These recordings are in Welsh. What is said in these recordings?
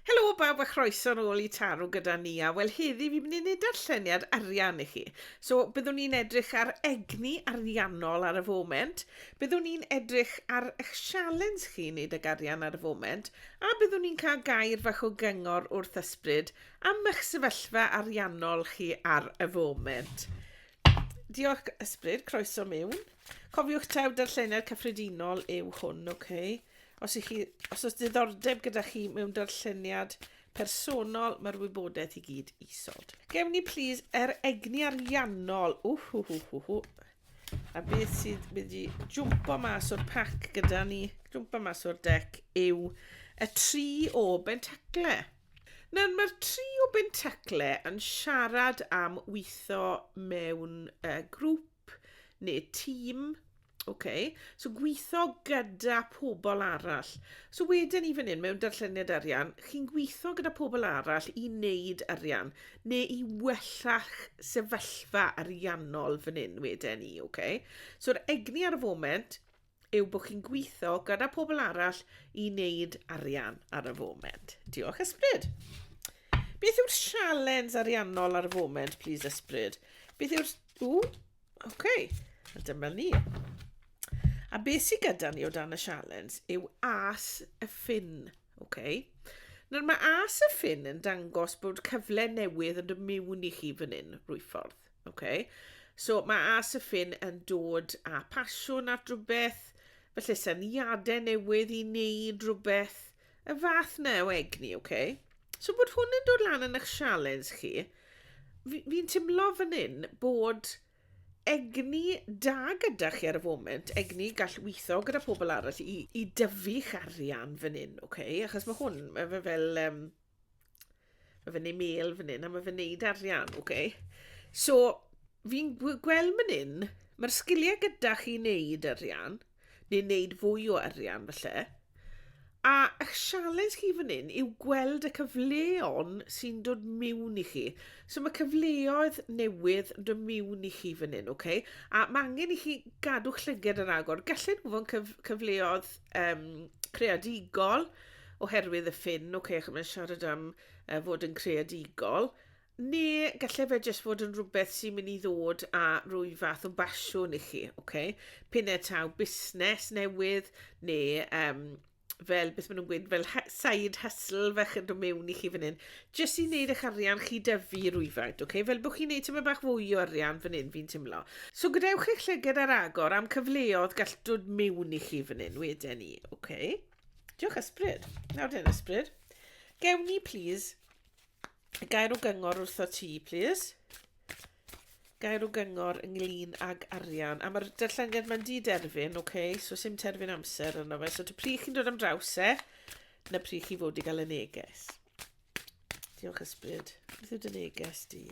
Helo bawb a chroeso yn ôl i Taro gyda ni a wel heddi fi'n mynd i wneud darlleniad arian i chi. So byddwn ni'n edrych ar egni ariannol ar y foment, byddwn ni'n edrych ar eich sialens chi wneud ag arian ar y foment a byddwn ni'n cael gair fach o gyngor wrth ysbryd am eich sefyllfa ariannol chi ar y foment. Diolch, Ysbryd. Croeso miwn. Cofiwch taw darllenau'r cyffredinol yw hwn, oce? Okay? Os, chi, os oes diddordeb gyda chi mewn darlleniad personol, mae'r wybodaeth i gyd isod. Gewn ni, plis, er egni ariannol. Whwhwhwhwhw. A beth sydd wedi jwmpo mas o'r pac gyda ni, jwmpo mas o'r dec, yw y tri o bentacle. Nawr mae'r tri o Bentacle yn siarad am weithio mewn uh, grŵp neu tîm. Okay. So gweithio gyda pobl arall. So wedyn ni fan hyn mewn darlleniad arian, chi'n gweithio gyda pobl arall i wneud arian neu i wella'ch sefyllfa ariannol fan hyn wedyn ni. Okay. So'r egni ar y foment yw bod chi'n gweithio gyda pobl arall i wneud arian ar y foment. Diolch, Ysbryd. Beth yw'r sialens ariannol ar y foment, please, Ysbryd? Beth yw'r... Ww, oce, okay. a dyma ni. A beth sydd gyda ni o dan y sialens yw as y ffin, oce? Okay? Nawr mae as y ffin yn dangos bod cyfle newydd yn dod mewn i chi fan hyn, rwy ffordd. Ok, so mae As y Ffin yn dod â pasiwn at rhywbeth, felly syniadau newydd i wneud rhywbeth, y fath na o egni, ok? So bod hwn yn dod lan yn eich sialens chi, fi'n fi timlo fan hyn bod egni da gyda chi ar y foment, egni gall weithio gyda pobl arall i, i dyfu'ch arian fan hyn, ok? Achos mae hwn, mae fe fel... Um, Mae fe'n ei mêl fan hyn a mae fe'n neud arian, oce. Okay. So, fi'n gweld fan hyn, mae'r sgiliau gyda chi wneud arian, neu wneud fwy o arian falle. A eich sialens chi fan hyn yw gweld y cyfleon sy'n dod mewn i chi. So mae cyfleoedd newydd yn dod mewn i chi fan hyn, oce? Okay? A mae angen i chi gadw llyged ar agor. Gallen nhw fod yn cyf cyfleoedd um, creadigol, oherwydd y ffin, ok, achos mae'n siarad am uh, fod yn creadigol, neu gallai fe jyst fod yn rhywbeth sy'n mynd i ddod a rwy fath o basiwn i chi, ok? Pyn e taw busnes newydd, neu um, fel beth maen nhw'n gweud, fel side hustle fach yn dod mewn i chi fan hyn, jyst i wneud eich arian chi dyfu rwyfaint, ok? Fel bod chi'n gwneud tyma bach fwy o arian fan hyn, fi'n tymlo. So gadewch eich llyged ar agor am cyfleodd gall dod mewn i chi fan hyn wedyn ni, ok? Diolch ysbryd. Nawr dyn ysbryd. Gewn ni, please, gair o gyngor wrtho ti, please. Gair o gyngor ynglyn ag arian. A mae'r darlleniad mae'n di derfyn, oce, okay? so sy'n terfyn amser yno fe. So ty pri chi'n dod am draws e, na pri chi fod i gael y neges. Diolch ysbryd. Beth yw dy neges di?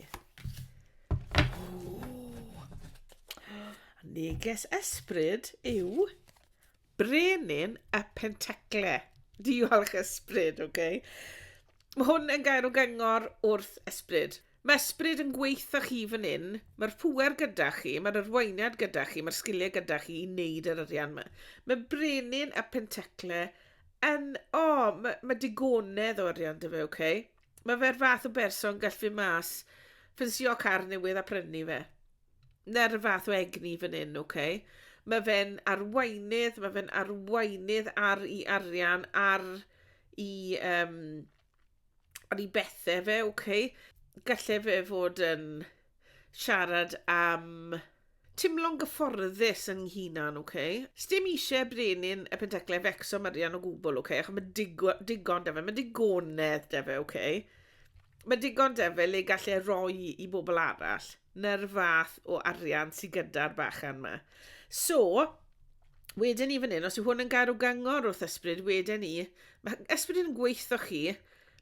Neges ysbryd yw Brenin y Pentacle. Diolch ysbryd, ok. Mae hwn yn gair o gyngor wrth ysbryd. Mae ysbryd yn gweitha chi fan hyn, mae'r pŵer gyda chi, mae'r arweiniad gyda chi, mae'r sgiliau gyda chi i wneud yr arian yma. Mae brenin y pentacle yn, o, oh, mae, mae digonedd o arian dy fe, oce? Okay? Mae fe'r fath o berson gall fi mas ffensio car newydd a prynu fe. 'na'r fath o egni fan 'yn ocê. Ma' fe'n arweinydd ma' fe'n arweinydd ar 'i arian ar 'i yym ar 'i bethe fe ocê. Galle fe fod yn siarad am timlo'n gyfforddus yn 'i hunan ocê. Sdim isie brenin y Pentecle fecso Marian o gwbwl ocê acho ma' digo- digon 'da fe ma' digonedd 'da fe ocê. Ma' digon 'da fe le gall e roi i bobol arall. na'r fath o arian sydd gyda'r bachan yma. So, wedyn ni fan hyn, os yw hwn yn gair o gyngor wrth ysbryd, wedyn ni, mae ysbryd yn gweithio chi,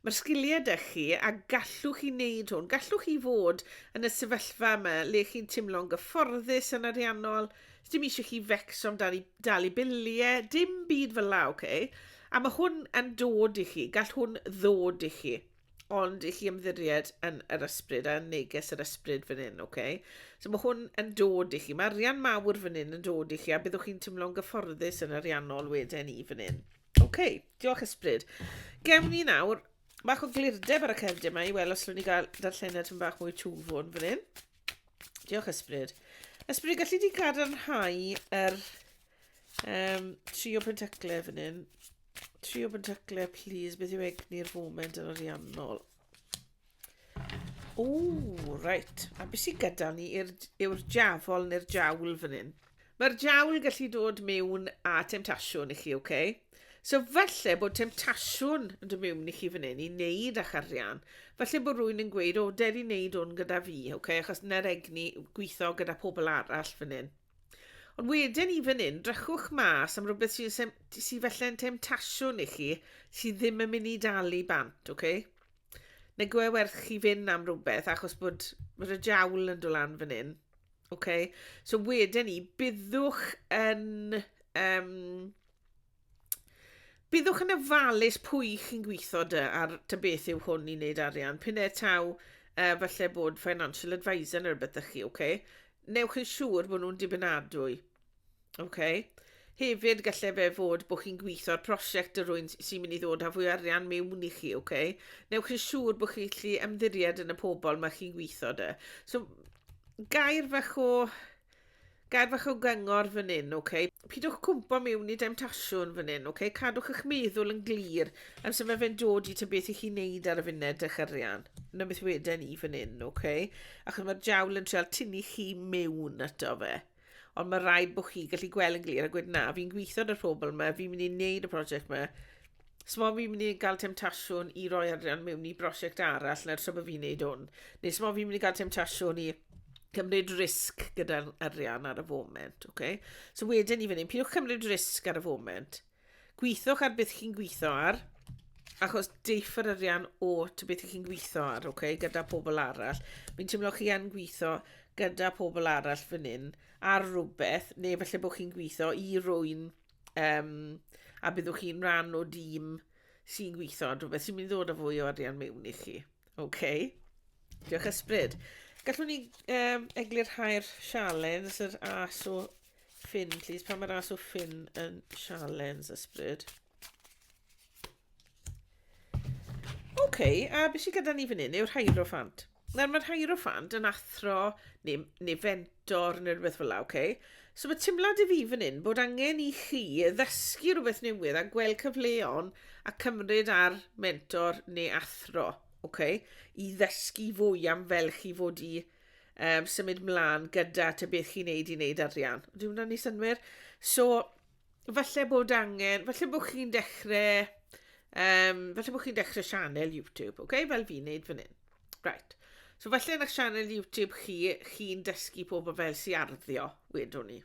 mae'r sgiliau da chi a gallwch chi wneud hwn. Gallwch chi fod yn y sefyllfa yma le chi'n teimlo'n gyfforddus yn ariannol, dim eisiau chi fecso am dalu, dalu biliau, dim byd fel la, oce? Okay? A mae hwn yn dod i chi, gall hwn ddod i chi. ond i chi ymddiried yn yr ysbryd a neges yr ysbryd fan hyn, oce? Okay? So mae hwn yn dod i chi, mae arian mawr fan hyn yn dod i chi a byddwch chi'n tymlo'n gyfforddus yn ariannol wedyn i fan hyn. Oce, okay, diolch ysbryd. Gewn ni nawr bach o glirdeb ar y cerdyn yma i weld os llwn ni gael darllenad yn bach mwy twfwn fan hyn. Diolch ysbryd. Ysbryd, gallu di gadarnhau yr um, tri o pentaclau fan hyn? Trio fy ntacle, please. Beth yw egni'r foment yn ariannol? O, reit. A beth sy'n gyda ni yw'r jafol neu'r jawl fan hyn? Mae'r jawl gallu dod mewn a temtasiwn i chi, oce? Okay? So falle bod temtasiwn yn dod mewn i chi fan hyn i wneud a'ch arian. Falle bod rhywun yn gweud, o, der i wneud hwn gyda fi, oce? Okay? Achos na'r egni gweithio gyda pobl arall fan hyn. Ond wedyn i fan hyn, drychwch mas am rhywbeth sy'n sem- sy felle'n temtasiwn i chi sydd ddim yn mynd i dalu bant, oce? Okay? Neu gwe werth chi fynd am rhywbeth achos bod yr y jawl yn dolan fan hyn. Oce? Okay? So wedyn i, byddwch yn... Um, Byddwch yn ofalus pwy chi'n gweithio dy ar dy beth yw hwn i wneud arian. Pyn e taw uh, falle bod financial advisor neu rhywbeth ydych chi, oce? Okay? Newch yn siŵr bod nhw'n dibynadwy. Oce? Okay? Hefyd, gallai fe fod bod chi'n gweithio ar prosiect y rwy'n sy'n mynd i ddod â fwy arian mewn i chi, oce? Okay? Newch yn siŵr bod chi'n gallu ymddiried yn y pobl mae chi'n gweithio dy. So, gair fach o Gair fach o gyngor fan hyn, ok? Pidwch cwmpo miwn i demtasiwn fan hyn, ok? Cadwch eich meddwl yn glir am sut mae fe'n dod i ta beth i chi wneud ar y funud, eich arian. Na beth weden i fan hyn, ok? Achos mae'r jawl yn treol tynnu chi miwn ato fe. Ond mae rhaid bod chi gallu gweld yn glir a gwed na, fi'n gweithio ar y pobl yma, fi'n mynd i wneud y prosiect yma, So mae fi'n mynd i gael temtasiwn i roi arian mewn i brosiect arall na'r tra bod fi'n neud hwn. Neu so mae fi'n mynd i gael temtasiwn i cymryd risg gyda'r arian ar y foment. Okay? So wedyn i fyny, pidwch cymryd risg ar y foment. Gweithwch ar beth chi'n gweithio ar, achos deiff yr arian o to beth chi'n gweithio ar, okay, gyda pobl arall. Fi'n teimlo chi yn gweithio gyda pobl arall fan hyn ar rhywbeth, neu felly bod chi'n gweithio i rwy'n Um, a byddwch chi'n rhan o dîm sy'n gweithio, rhywbeth sy'n mynd i ddod â fwy o arian mewn i chi. Okay. Diolch ysbryd. Gallwn ni um, eglurhau'r sialens, yr as o ffyn, please. Pan mae'r as o ffyn yn sialens ysbryd. OK, a beth sydd gyda ni fan hyn yw'r Hierophant. Nawr mae'r Hierophant yn athro neu, neu fentor neu rhywbeth fel la, OK? So mae teimlad i fi fan hyn bod angen i chi ddysgu rhywbeth newydd a gweld cyfleon a cymryd ar mentor neu athro, OK? I ddysgu fwy am fel chi fod i um, symud mlaen gyda te beth chi'n neud i neud arian. Dwi'n hwnna'n ei synwyr? So, falle bod angen, falle bod chi'n dechrau, um, falle bod chi'n dechrau sianel YouTube, oce, okay? fel fi'n neud fan hyn. Right. So falle yn eich sianel YouTube chi, chi'n dysgu pobl fel si arddio, wedwn ni.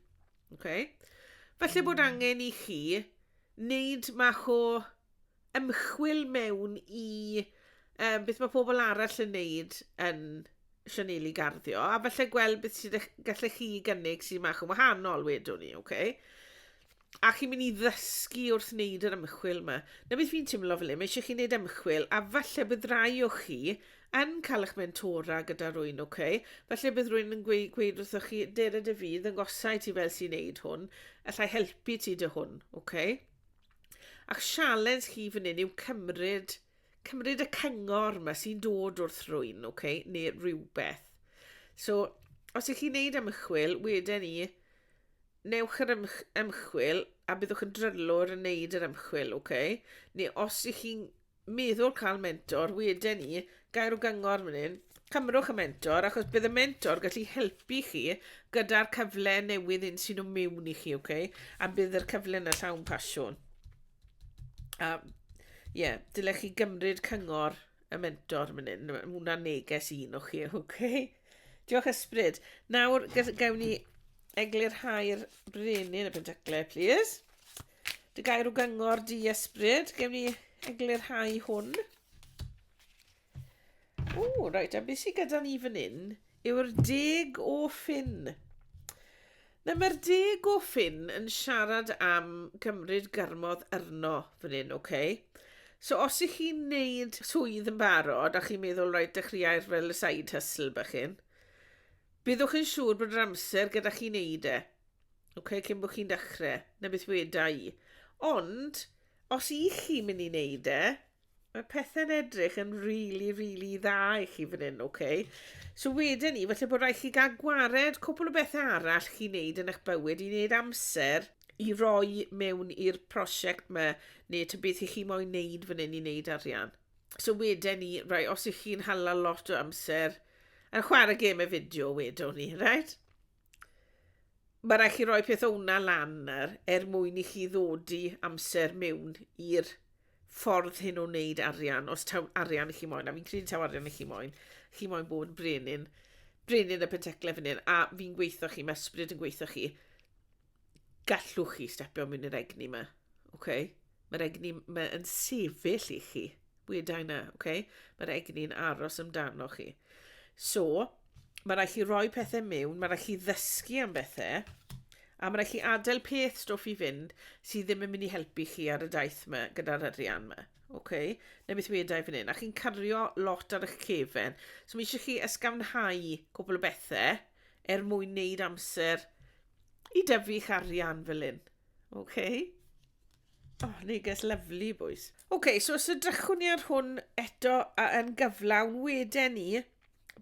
Okay? Falle bod hmm. angen i chi wneud mach o ymchwil mewn i um, beth mae pobl arall yn neud yn Sianeli Garddio, a falle gweld beth sydd eich, gallech chi gynnig sy'n mach yn wahanol, wedwn ni, oce? Okay? A chi'n mynd i ddysgu wrth wneud yr ymchwil yma. Na beth fi'n teimlo fel hyn, mae eisiau chi wneud ymchwil, a falle bydd rai o chi yn cael eich mentora gyda rwy'n, oce? Okay? Falle bydd rwy'n yn gweud, gweud wrthoch chi, Dere dy fydd, yn gosau ti fel sy'n neud hwn, allai helpu ti dy hwn, oce? Okay? A'ch sialens chi fan hyn yw cymryd, cymryd y cyngor yma sy'n dod wrth rwy'n, okay, neu rhywbeth. So, os ych chi'n neud ymchwil, wedyn ni, newch yr ymchwil a byddwch yn drylwr yn neud yr ymchwil, okay? Neu os ych chi'n meddwl cael mentor weden i gael rhyw gyngor fan hyn cymrwch y mentor achos bydd y mentor gallu helpu chi gyda'r cyfle newydd un sy'n o mewn i chi okay? a bydd yr cyfle yna llawn pasiwn a ie yeah, dylech chi gymryd cyngor y mentor fan hyn mae hwnna'n neges un o chi okay? diolch ysbryd nawr gawn ni eglurhau'r brenin y pentacle please Dy gair o gyngor di ysbryd. Gewn ni eglurhau hwn. O, reit, a beth sydd gyda ni fan hyn yw'r deg o ffin. Na, mae'r deg o ffin yn siarad am gymryd gyrmodd arno fan hyn, oce? Okay? So os ych chi'n neud swydd yn barod a chi'n meddwl, rhaid, dechreuai'r fel y side hustle bach hyn, byddwch yn siŵr bod yr amser gyda chi'n neud e. Ok, cyn bod chi'n dechrau, na beth weda i. Ond, os i chi mynd i wneud e, mae pethau'n edrych yn really, really dda i chi fan hyn, ok? So wedyn ni, felly bod rhaid chi gael gwared cwpl o bethau arall chi wneud yn eich bywyd i wneud amser i roi mewn i'r prosiect yma, neu ta beth i chi moyn wneud fan hyn i wneud arian. So wedyn ni, rai, os ych chi'n hala lot o amser, a chwarae gêm y fideo wedwn ni, right? Mae rhaid chi roi peth o'na lan er, er mwyn i chi ddod i amser mewn i'r ffordd hyn o wneud arian, os taw arian i chi moyn, a fi'n credu taw arian i chi moyn, chi moyn bod yn brenin, brenin y penteclef yn hyn, a fi'n gweithio chi, mae ysbryd yn gweithio chi, Gallwch chi stepio mewn i'r egni yma, oce? Mae'r egni ma' yn sefyll i chi. Weda i 'na, oce? Mae'r egni'n aros amdano chi. So, mae rai chi roi pethau mewn, mae rai chi ddysgu am bethau, a mae rai chi adael peth stwff i fynd sydd ddim yn mynd i helpu chi ar y daith yma gyda'r arian yma, oce? Na beth weda i fan hyn, a chi'n cario lot ar eich cefen. So, mae eisiau chi ysgafnhau cwbl o bethau, er mwyn wneud amser i dyfu'ch arian fel hyn. OK? Oh, neges lyflu, bwys. OK, so os ydrychwn ni ar hwn eto yn gyflawn, wedyn ni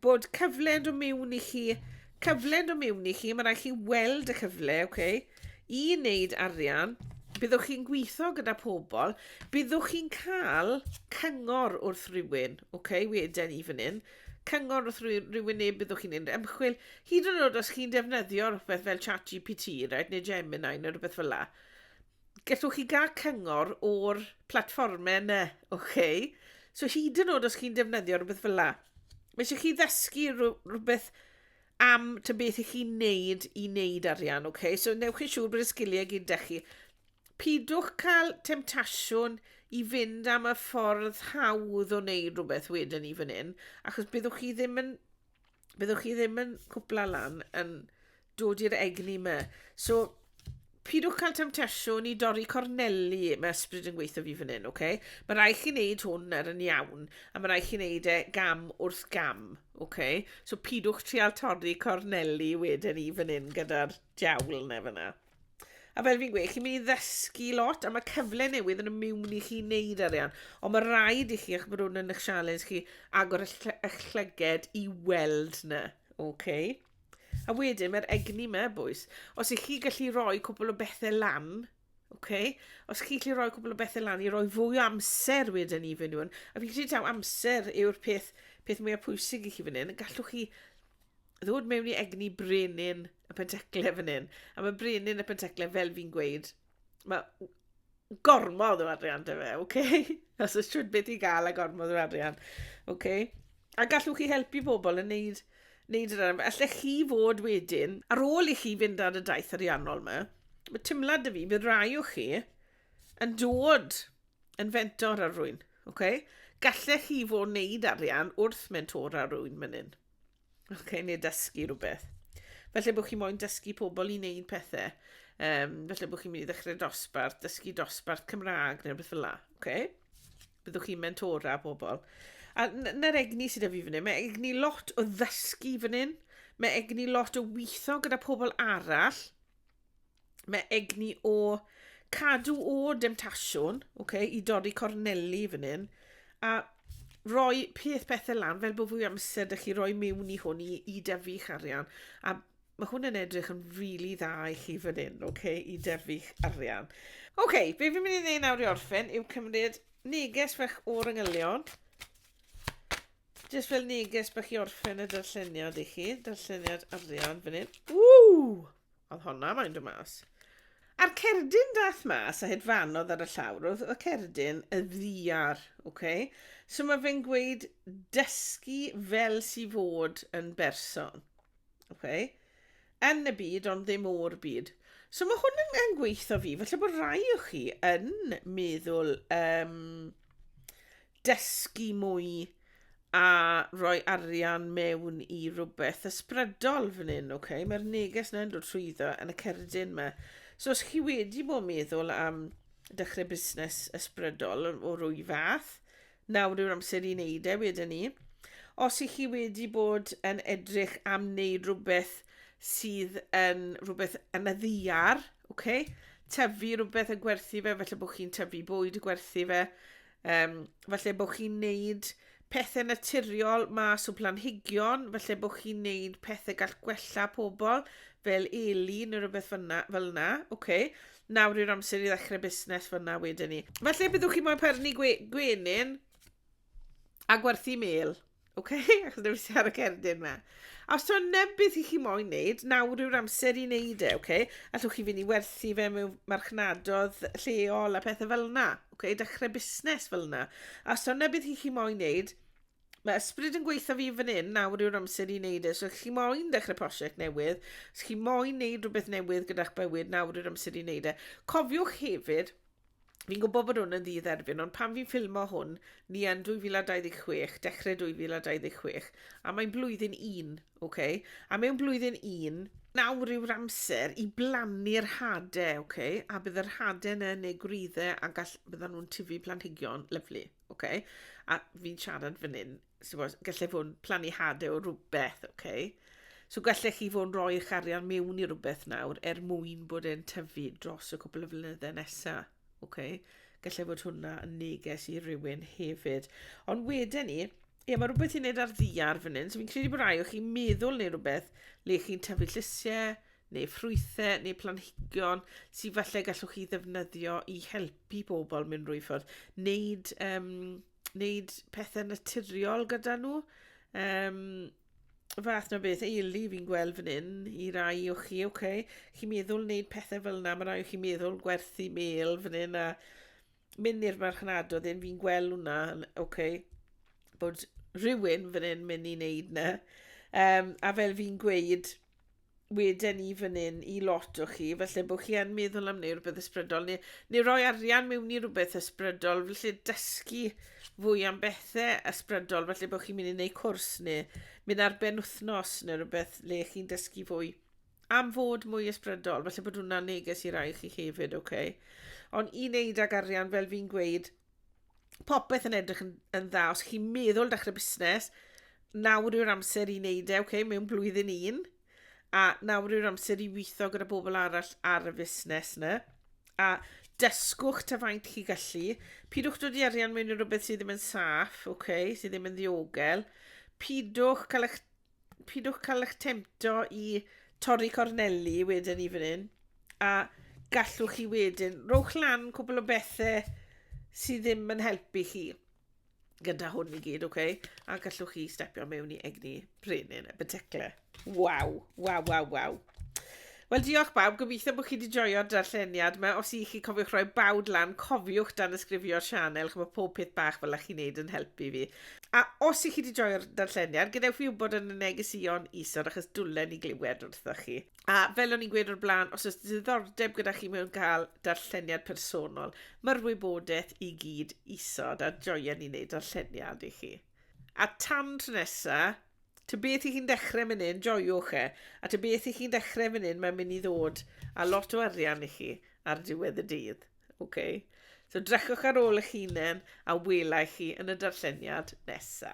bod cyfle yn dod mewn i chi, cyfle yn dod mewn i chi, mae rhaid chi weld y cyfle, OK, i wneud arian, byddwch chi'n gweithio gyda pobl, byddwch chi'n cael cyngor wrth rywun, OK, wedyn ni fan hyn, cyngor wrth rywun neu byddwch chi'n neud ymchwil, hyd yn oed os chi'n defnyddio rhywbeth fel ChatGPT, right, neu Gemini neu rhywbeth fel la, gallwch chi gael cyngor o'r platfformau yna, oce? Okay? So hyd yn oed os chi'n defnyddio rhywbeth fel la, mae eisiau chi ddysgu rhywbeth am ty beth i chi'n neud i neud arian, oce? Okay? So newch chi'n siŵr bod y sgiliau gyd da chi. Pidwch cael temtasiwn i fynd am y ffordd hawdd o wneud rhywbeth wedyn ni fan hyn, achos byddwch chi ddim yn byddwch chi ddim yn cwpla lan yn dod i'r egni yma. So, pidwch cael temtasiwn i dorri corneli, mae ysbryd yn gweithio fi fan hyn, oce? Okay? Mae rai chi wneud hwn ar yn iawn, a mae rai chi wneud e gam wrth gam, oce? Okay? So, pidwch trial torri corneli wedyn i fan hyn gyda'r diawl neu fyna. A fel fi'n gweud, chi'n mynd i ddysgu lot, a mae cyfle newydd yn y miwn i chi wneud arian. Ond mae rhaid i chi, eich bod hwn yn eich sialens chi, agor eich llyged i weld na. Okay? A wedyn, mae'r egni yma, bwys. Os ych chi gallu rhoi cwbl o bethau lan, okay? os chi gallu rhoi cwbl o bethau lan i roi fwy o amser wedyn i fy nhw'n, a fi'n credu taw amser yw'r peth, peth mwyaf pwysig i chi fan hyn, gallwch chi ddod mewn i egni brenin y pentecle fan hyn. A mae brenin y pentecle, fel fi'n gweud, mae gormod o arian dy fe, oce? Okay? Os oes trwy beth i gael a gormod o arian, oce? Okay? A gallwch chi helpu bobl yn neud, neud yr arian. Allech chi fod wedyn, ar ôl i chi fynd ar y daith ariannol yma, mae tymlad y fi, bydd rai o chi yn dod yn fentor ar rwy'n, oce? Okay? Gallech chi fod wneud arian wrth mentor ar rwy'n mynd hyn. Okay, neu dysgu rhywbeth. Felly bod chi moyn dysgu pobl i wneud pethau. Um, felly bod chi'n mynd i ddechrau dosbarth, dysgu dosbarth Cymraeg neu rhywbeth fel la. Okay? Byddwch chi'n mentora pobl. A na'r egni sydd â fi fan hyn, mae egni lot o ddysgu fan hyn. Mae egni lot o weithio gyda pobl arall. Mae egni o cadw o demtasiwn, oce, i dorri corneli fan hyn, a roi peth pethau lan, fel bod fwy o amser 'da chi roi mewn i hwn i i dyfu'ch arian, a mae hwn yn edrych yn rili dda i chi fan hyn, oce, i dyfu'ch arian. Oce, be fi'n mynd i wneud nawr i orffen yw cymryd neges fach o'r angylion, jyst fel neges bach i orffen y darlleniad i chi, darlleniad arian fan hyn. Ww! Oedd honna moyn dod mas. A'r cerdyn dath mas a hedfanodd ar y llawr, oedd y cerdyn y ddiar, ok? So mae fe'n gweud dysgu fel si fod yn berson, ok? Yn y byd ond ddim o'r byd. So mae hwn yn, yn gweithio fi, felly bod rai o chi yn meddwl um, dysgu mwy a rhoi arian mewn i rhywbeth ysbrydol fan hyn, oce? Okay? Mae'r neges yna'n dod trwyddo yn y cerdyn yma. So os chi wedi bod yn meddwl am dechrau busnes ysbrydol o rwy fath, nawr yw'r amser i wneud e wedyn ni. Os i chi wedi bod yn edrych am wneud rhywbeth sydd yn rhywbeth yn y ddiar, okay? tyfu rhywbeth a gwerthu fe, felly bod chi'n tyfu bwyd a gwerthu fe, Um, falle bod chi'n neud pethau naturiol mas o planhigion, falle bod chi'n neud pethau gall gwella pobl, fel eli neu rhywbeth fyna, fel yna. Okay. Nawr yw'r amser i ddechrau busnes fyna wedyn ni. Falle byddwch chi'n moyn perni gwe gwenyn a gwerthu mel. OK? Achos dewis i ar y cerdyn ma. A os ti'n neb beth i chi moyn wneud, nawr yw'r amser i wneud e, OK? Allwch chi fynd i werthu fe mewn marchnadodd lleol a pethau fel yna, OK? Dechrau busnes fel yna. A os ti'n neb beth i chi moyn wneud, mae ysbryd yn gweithio fi fan hyn, nawr yw'r amser i wneud e. So, chi moyn dechrau prosiect newydd, os chi moyn wneud rhywbeth newydd gyda'ch bywyd, nawr yw'r amser i wneud e. Cofiwch hefyd, Fi'n gwybod bod hwn yn ddydd erfyn, ond pan fi'n ffilmo hwn, ni yn 2026, dechrau 2026, a mae'n blwyddyn un, oce? Okay? A mewn blwyddyn un, nawr yw'r amser i blannu'r hade, oce? Okay? A bydd yr hade yna neu gwreiddau a gall, byddan nhw'n tyfu planhigion, lyflu, oce? Okay? A fi'n siarad fan hyn so, gallai fod yn plannu hadau o rhywbeth, oce? Okay? So gallech chi fod yn rhoi'ch arian mewn i rhywbeth nawr er mwyn bod e'n tyfu dros y cwbl o flynyddau nesaf, oce? Okay? Gallai fod hwnna yn neges i rywun hefyd. Ond wedyn ni, ie, mae rhywbeth i'n neud ar ddiar fan hyn, so fi'n credu bod rhai o chi'n meddwl neu rhywbeth le chi'n tyfu llysiau, neu ffrwythau, neu planhigion sydd falle gallwch chi ddefnyddio i helpu pobl mynd rwy ffordd. Neud um, wneud pethau naturiol gyda nhw. Um, fath na beth eili fi'n gweld fan hyn i rai o chi, oce, okay. chi'n meddwl wneud pethau fel yna, mae rai o chi'n meddwl gwerthu mel fan hyn a mynd i'r marchnad o ddim, fi'n gweld hwnna, oce, okay. bod rhywun fan hyn mynd i wneud na. Um, a fel fi'n gweud, wedyn i fan hyn i lot o chi, felly bod chi yn meddwl am wneud rhywbeth ysbrydol, neu, neu roi arian mewn i rhywbeth ysbrydol, felly dysgu fwy am bethau ysbrydol, felly bod chi'n mynd i wneud cwrs neu mynd ar ben wythnos neu rhywbeth le chi'n dysgu fwy am fod mwy ysbrydol, felly bod hwnna'n neges i rai chi hefyd, oce? Okay? Ond i wneud ag arian, fel fi'n gweud, popeth yn edrych yn, yn dda. Os chi'n meddwl dechrau busnes, nawr yw'r amser i wneud e, okay, mewn blwyddyn un, a nawr yw'r amser i weithio gyda bobl arall ar y fusnes yna. A dysgwch ta faint chi gallu. Pidwch dod i arian mewn i rhywbeth sydd ddim yn saff, okay, sydd ddim yn ddiogel. Pidwch cael eich pidwch cael eich temto i torri corneli wedyn i fan hyn. A gallwch chi wedyn, rowch lan cwbl o bethau sydd ddim yn helpu chi gyda hwn i gyd, oce? Okay? A gallwch chi stepio mewn i egni brenin y beteclau. Waw, waw, waw, waw. Wel diolch bawb, gobeithio bod chi wedi joio'r darlleniad yma. Os i chi cofiwch rhoi bawd lan, cofiwch dan ysgrifio'r sianel, chymod pob peth bach fel ych chi'n neud yn helpu fi. A os i chi wedi joio'r darlleniad, gadewch fi wybod yn y negesuon isod achos dwlen i glywed wrthoch chi. A fel o'n i'n gweud o'r blaen, os oes diddordeb gyda chi mewn cael darlleniad personol, mae'r wybodaeth i gyd isod a joia ni wneud darlleniad i chi. A tan tro nesa, ta beth i chi'n dechrau fan hyn, joiwch e. A ta beth i chi'n dechrau fan hyn, mae'n mynd i ddod a lot o arian i chi ar diwedd y dydd. Okay? So drechwch ar ôl eich hunain a welai chi yn y darlleniad nesa.